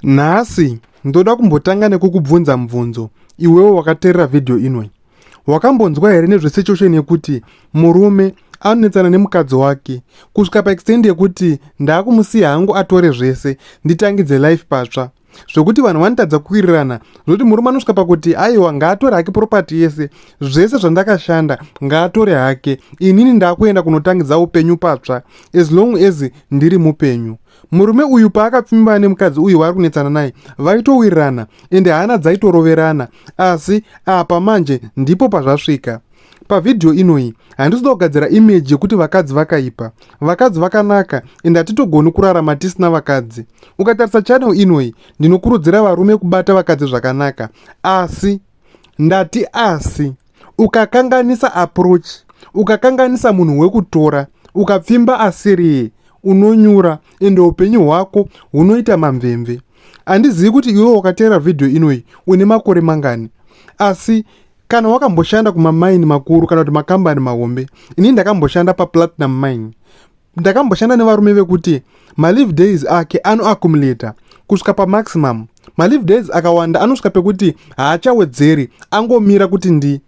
Nhasi ndoda kumbotanga nekukubvunza mubvunzo iwewo wakaterera vhidhiyo inoi. Wakambonzwa here nezvesituation yekuti murume anonetsana nemukadzi wake kusvika paextend yekuti ndaakumusiya hangu atore zvese nditangidze life patsva zvekuti vanhu vanotadza kuwirirana zvekuti murume anosvika pakuti aiwa ngaatore hake propati yese zvese zvandakashanda ngaatore hake inini ndaakuenda kunotangidza upenyu patsva as long as ndiri mupenyu murume uyu paakapfimbana nemukadzi uyu waari kunetsana naye vaitowirirana ende hana dzaitoroverana asi apa manje ndipo pazvasvika pavhidhiyo inoyi handisi kuda kugadzira imeji yekuti vakadzi vakaipa vakadzi vakanaka ende hatitogoni kurarama tisina vakadzi ukatarisa chanel inoyi ndinokurudzira varume kubata vakadzi zvakanaka asi ndati asi ukakanganisa approach ukakanganisa munhu wekutora ukapfimba asiriye unonyura ende upenyu hwako hunoita mamvemve handizivi kuti iwe wakateera vhidhiyo inoyi une makore mangani asi kana wakamboshanda kumamaini makuru kana kuti makambani mahombe ini ndakamboshanda paplatinum mine ndakamboshanda nevarume vekuti malive days ake anoaccumulator kusvika pamaximum malive days akawanda anosvika pekuti haachawedzeri angomira kuti ndi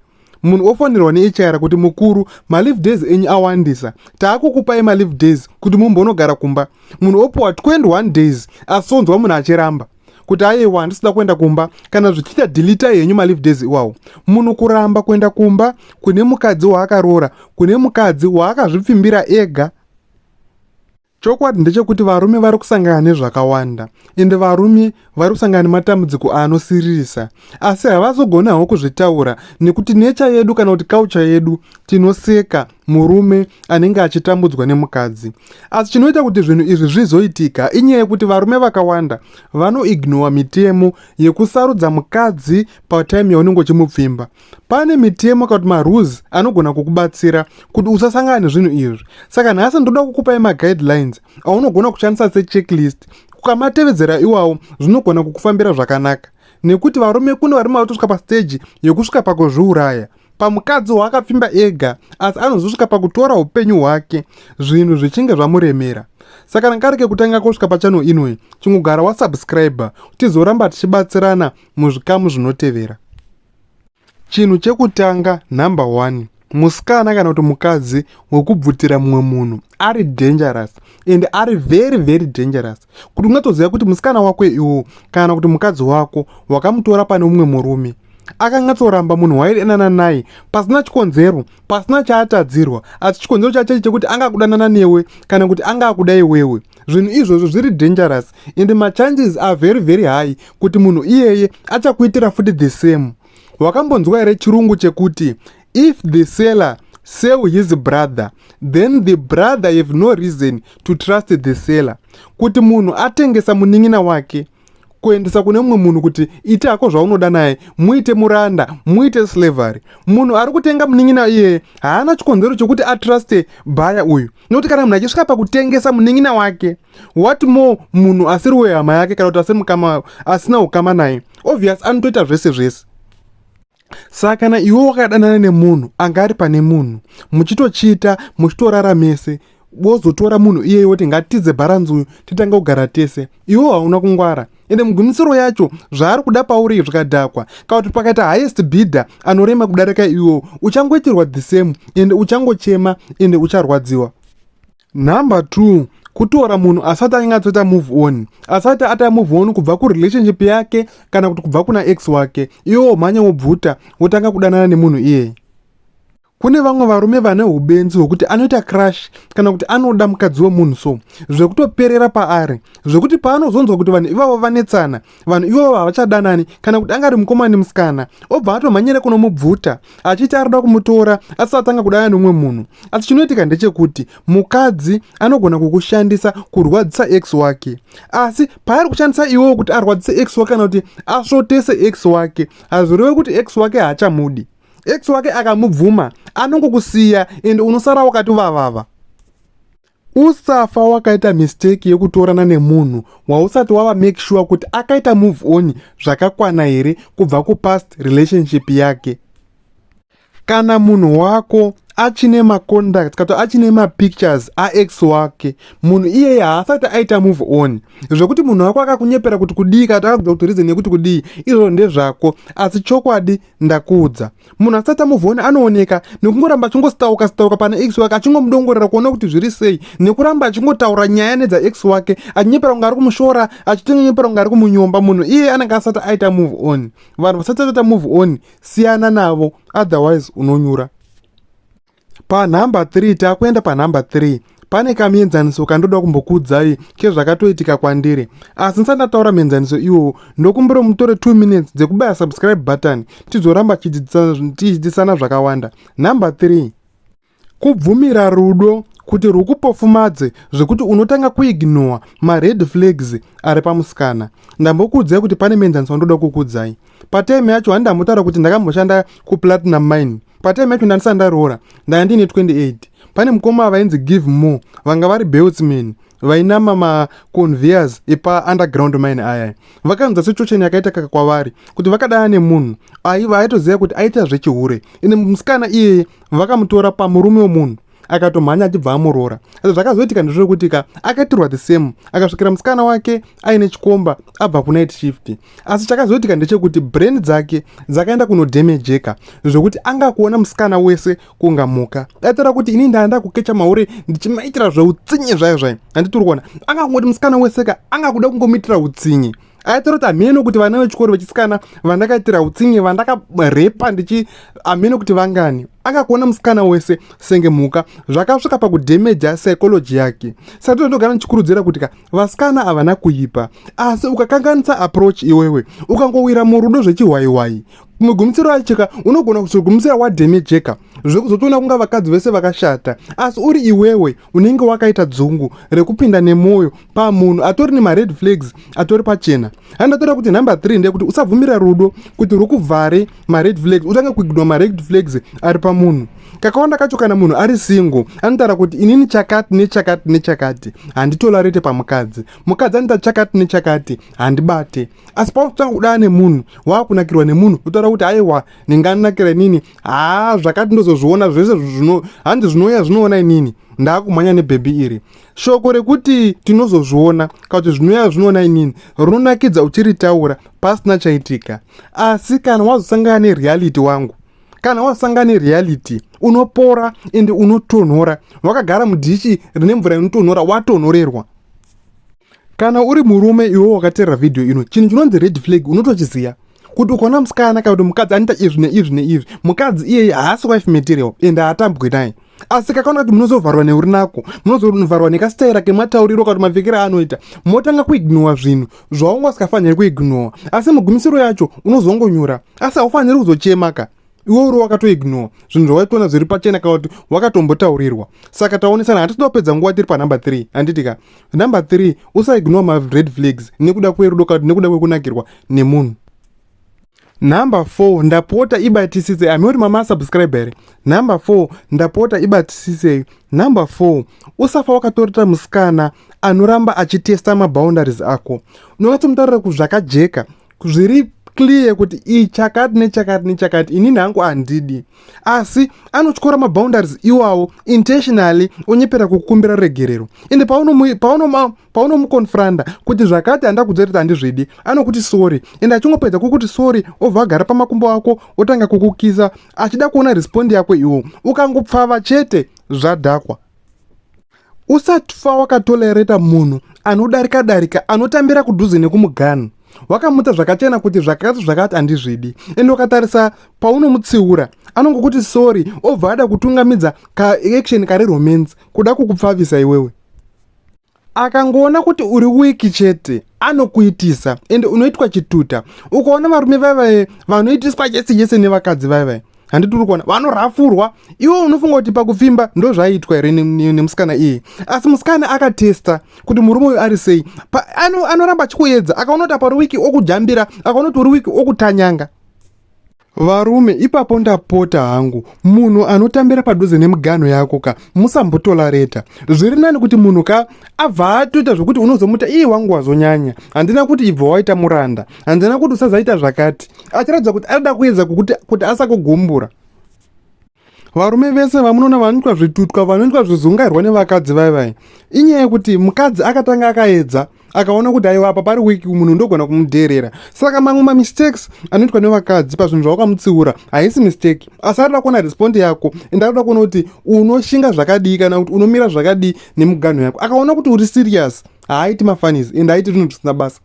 munhu ofonerwa nehr kuti mukuru malive days enyu awandisa taakukupai malive days kuti mumbonogara kumba munhu opiwa 21 days asonzwa munhu achiramba kuti aiwa handisi kuda kuenda kumba kana zvichiita dilitai henyu malive days iwawo munhu kuramba kuenda kumba kune mukadzi waakaroora kune mukadzi waakazvipfimbira ega chokwadi ndechekuti varume vari kusangana nezvakawanda ende varume vari kusangana nematambudziko anosiririsa asi havazogoni hawo kuzvitaura nekuti necha yedu kana kuti kaucha yedu tinoseka murume anenge achitambudzwa nemukadzi asi chinoita kuti zvinhu izvi zvizoitika inyaya yekuti varume vakawanda vanoignowa mitemo yekusarudza mukadzi patime yaunenge uchimupfimba pane mitemo kana kuti marules anogona kukubatsira kuti usasangana nezvinhu izvi saka nhasi ndoda kukupai maguidelines aunogona kushandisa sechecklist ukamatevedzera iwawo zvinogona kukufambira zvakanaka nekuti varume kune varume vatosvika pasteji yekusvika pakuzviuraya pamukadzi waakapfimba ega asi anozosvika pakutora upenyu hwake zvinhu zvichinge zvamuremera saka rangarike kutanga kosvika pachano inoi chingogara wasubscribe tizoramba tichibatsirana muzvikamu zvinotevera chinhu chekutanga number one musikana kana kuti mukadzi wekubvutira mumwe munhu ari dangerous and ari very very dangerous kuti ungatoziva kuti musikana wako iwo kana kuti mukadzi wako wakamutora pane umwe murume akanyatsoramba munhu waidanana naye pasina chikonzero pasina chaatadzirwa asi chikonzero chachechi chekuti anga akudanana newe kana kuti anga akuda iwewe zvinhu izvozvo zviri dangerous and machances are very very high kuti munhu iyeye achakuitira futi the same wakambonzwa here chirungu chekuti If the seller sell his brother then the brother have no reason to trust the seller kuti munhu atengesa munin'ina wake kuendesa kune mumwe munhu kuti ita hako zvaunoda naye muite muranda muite slavery munhu ari kutenga munin'ina iyeye haana chikonzero chokuti atruste bhaya uyu nokuti kana munhu achisvika pakutengesa munin'ina wake what more munhu asiri wehama yake kana kuti asiri mukama asina ukama naye obvious anotoita zvese zvese saka kana iwe wakadanana nemunhu anga ari pane munhu muchitochita muchitorara mese wozotora munhu iyeye woti ngatidze bharanzi uyu titange kugara tese iwe hauna kungwara ende mugumisiro yacho zvaari kuda pauri zvikadhakwa kana kuti pakaita highest bidder anorema kudarika iwewo uchangoitirwa the same ende uchangochema ende ucharwadziwa Number two, kutora munhu asati anyatsoita move on asati ata move on kubva kurelationship yake kana kuti kubva kuna ex wake iwe womhanya wobvuta wotanga kudanana nemunhu iyeye kune vamwe varume vane ubenzi hwekuti anoita crush kana kuti anoda mukadzi wemunhu so zvekutoperera paari zvekuti paanozonzwa kuti vanhu ivavo vanetsana vanhu ivovo havachadanani kana kuti anga ari mukoma nemusikana obva atomhanyira kunomubvuta achiti arida kumutora asi atanga kudana neumwe munhu asi chinoitika ndechekuti mukadzi anogona kukushandisa kurwadzisa x wake asi paari kushandisa iwowo kuti arwadzise x wake kana kuti asvotese x wake hazvireve kuti x wake haachamudi x wake akamubvuma anongokusiya ende unosara wakati vavava usafa wakaita mistake yekutorana nemunhu wausati wava make sure kuti akaita move on zvakakwana here kubva kupast relationship yake kana munhu wako achine maconduct kato achine mapictures aex wake munhu iyeye haasati aita move on zvekuti munhu wako akakunyepera kuti kudii kato akakuda kuti reason yekuti kudii izvozvo ndezvako asi chokwadi ndakuudza munhu asati amuvhona anooneka nekungoramba achingositauka sitauka pana x wake achingomudongorera kuona kuti zviri sei nekuramba achingotaura nyaya nedza x wake achinyepera kunge ari kumushora achitonyepera kunge ari kumunyomba munhu iye anenge asati aita move on vanhu vasati ataita move on siyana navo otherwise unonyura panhamba 3 takuenda panhamba 3 pane kamienzaniso kandoda kumbokuudzai kezvakatoitika kwandiri asi ndisati ndataura mienzaniso iwowo ndokumbira mutore 2 minutes dzekubaya subscribe button tizoramba tichidzidzisana zvakawanda number 3 kubvumira rudo kuti rwukupofumadze zvekuti unotanga kuignowa mared flags ari pamusikana ndambokuudzai kuti pane mienzaniso wandoda kukuudzai patime yacho handambotaura kuti ndakamboshanda kuplatinum mine patime yacho ndandisati ndaroora ndanga ndiine 28 pane mukoma vainzi give more vanga vari beltsman vainama maconveyors epaunderground mine aya vakaunza situation yakaita kaka kwavari kuti vakadana nemunhu aiva aitoziva kuti aita zvechihure ine musikana iyeye vakamutora pamurume wemunhu akatomhanya achibva amuroora asi zvakazoitika ndezvekuti ka akatirwa the same akasvikira musikana wake aine chikomba abva kunight shift asi chakazoitika ndechekuti brain dzake dzakaenda kunodemejeka zvekuti anga kuona musikana wese kunga mhuka daitira kuti ini ndaenda kukecha mahure ndichimaitira zveutsinye zvayo zvayo handitiri kuona anga kungoti musikana wese ka anga kuda kungomuitira utsinye aitoroti hameno kuti vana vechikoro vechisikana vandakaitira utsinye vandakarepa ndichi hameno kuti vangani akakuona musikana wese senge mhuka zvakasvika pakudhemeja psychology yake sati ndogara ndichikurudzira kuti ka vasikana havana kuipa asi ukakanganisa approach iwewe ukangowira murudo zvechihwaihwai mugumisiro acheka unogona kuzogumisira wadheni jeka zvekuzotoona kunga vakadzi vese vakashata asi uri iwewe unenge wakaita dzungu rekupinda nemwoyo pamunhu atori nemared flags atori pachena handatora kuti number 3 ndeyekuti usabvumira rudo kuti rukuvhare mared flags utange kuigidwa mared flags ari pamunhu kakawanda kacho kana munhu ari single anotaura kuti inini chakati nechakati nechakati handitolarete pamukadzi mukadzi anoita chakati nechakati handibate asi pautanga kudana nemunhu waakunakirwa nemunhu otaura kuti aiwa ndinganakira inini haa zvakati ndozozviona zvese zvino hanzi zvinouya zvinoona inini ndaakumhanya nebhebhi iri shoko rekuti tinozozviona kana kuti zvinouya zvinoona inini rinonakidza uchiritaura pasina chaitika asi kana wazosangana nereality wangu kana wasangana nereality unopora ende unotonhora wakagara mudhichi rine mvura inotonhora watonhorerwa kana uri murume iwe wakateerera vhidhiyo ino chinhu chinonzi red flag unotochiziva kuti ukaona musikana kana kuti mukadzi anoita izvi neizvi neizvi mukadzi iyeye haasi wife material ende haatambwi naye asi kakaona kuti munozovharwa neurinako munozovharwa nekasitaira kematauriro kana kuti mapfekero aanoita motanga kuignowa zvinhu zvaunga usikafaniri kuignowa asi mugumisiro yacho unozongonyura asi haufaniri kuzochemaka iwe uri wakatoignore zvinhu zvawaitoona zviri pachena kana kuti wakatombotaurirwa saka taonesana hatitoda kupedza nguva tiri panumber three handiti ka number three usaignore mared flags nekuda kwerudo kana kuti nekuda kwekunakirwa nemunhu number four ndapota ibatisise ami uri mama asubscribe here number four ndapota ibatisisei number four usafa wakatorita musikana anoramba achitesta maboundaries ako unokatsomutarira kuzvakajeka zviri clear kuti iyi chakati nechakati nechakati inini hangu handidi asi anotyora maboundaries iwawo intentionally onyepera kukumbira regerero ende paunomuconfronda kuti zvakati handa kuziva kuti handizvidi anokuti sorry ende achingopedza kukuti sorry obva agara pamakumbo ako otanga kukukisa achida kuona respond yako iwo ukangopfava chete zvadhakwa Usatfa wakatolereta munhu anodarika darika anotambira kudhuze nekumuganhu wakamutsa zvakachena kuti zvakati zvakati handizvidi ende ukatarisa paunomutsiura anongokuti sorry obva ada kutungamidza kaaction kari romance kuda kukupfavisa iwewe akangoona kuti uri wiki chete anokuitisa ende unoitwa chituta ukaona varume vaivaye vanoitiswa chese chese nevakadzi vaivaye handiti uri kuona vanorhafurwa iwe unofunga kuti pakupfimba ndozvaiitwa here nemusikana iye asi musikana akatesta kuti murume uyu ari sei anoramba achikuedza akaona kuti apa riwiki okujambira akaona kuti uri wiki okutanyanga varume ipapo ndapota hangu munhu anotambira padhuze nemiganho yako ka musambotola reta zviri nani kuti munhu ka abva atoita zvekuti unozomuta iye wangu wazonyanya handina kuti ibva waita muranda hanzana kuti usazaita zvakati achiratidza kuti arida kuedza kuti, kuti asakugumbura varume vese vamunoona vanoitwa zvitutwa vanoitwa zvizungairwa nevakadzi vai vai inyaya yekuti mukadzi akatanga akaedza akaona kuti aiwa apa pari wiki munhu ndogona kumudheerera saka mamwe mamistakes anoitwa nevakadzi pazvinhu zvawakamutsiura haisi mistake asi arida kuona respondi yako and arida kuona kuti unoshinga zvakadii kana kuti unomira zvakadii nemuganho yako akaona kuti uri serious haaiti mafanis and aiti zvinhu zvisina basa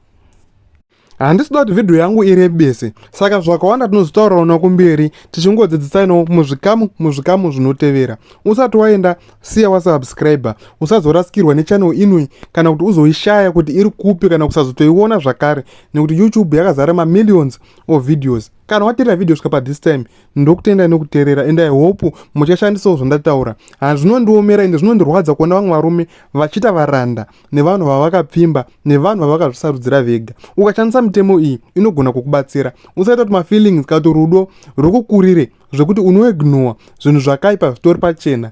handisi kuda kuti vhidhiyo yangu irebese saka zvakawanda tinozotaurawo nokumberi tichingodzidzisanawo muzvikamu muzvikamu zvinotevera usati waenda siya wasubscriber usazorasikirwa nechanel inoi kana kuti uzoishaya kuti iri kupi kana kusazotoiona zvakare nekuti youtube yakazara mamillions of videos kana waterera video svika pathis time ndokutendai nokuterera and i hope muchashandisawo zvandataura hazvinondiomera ende zvinondirwadza kuona vamwe varume vachiita varanda nevanhu vavakapfimba nevanhu vavakazvisarudzira vega ukashandisa mitemo iyi inogona kukubatsira usaita kuti mafeelings kana kuti rudo rwekukurire zvekuti unoignowa zvinhu zvakaipa zvitori pachena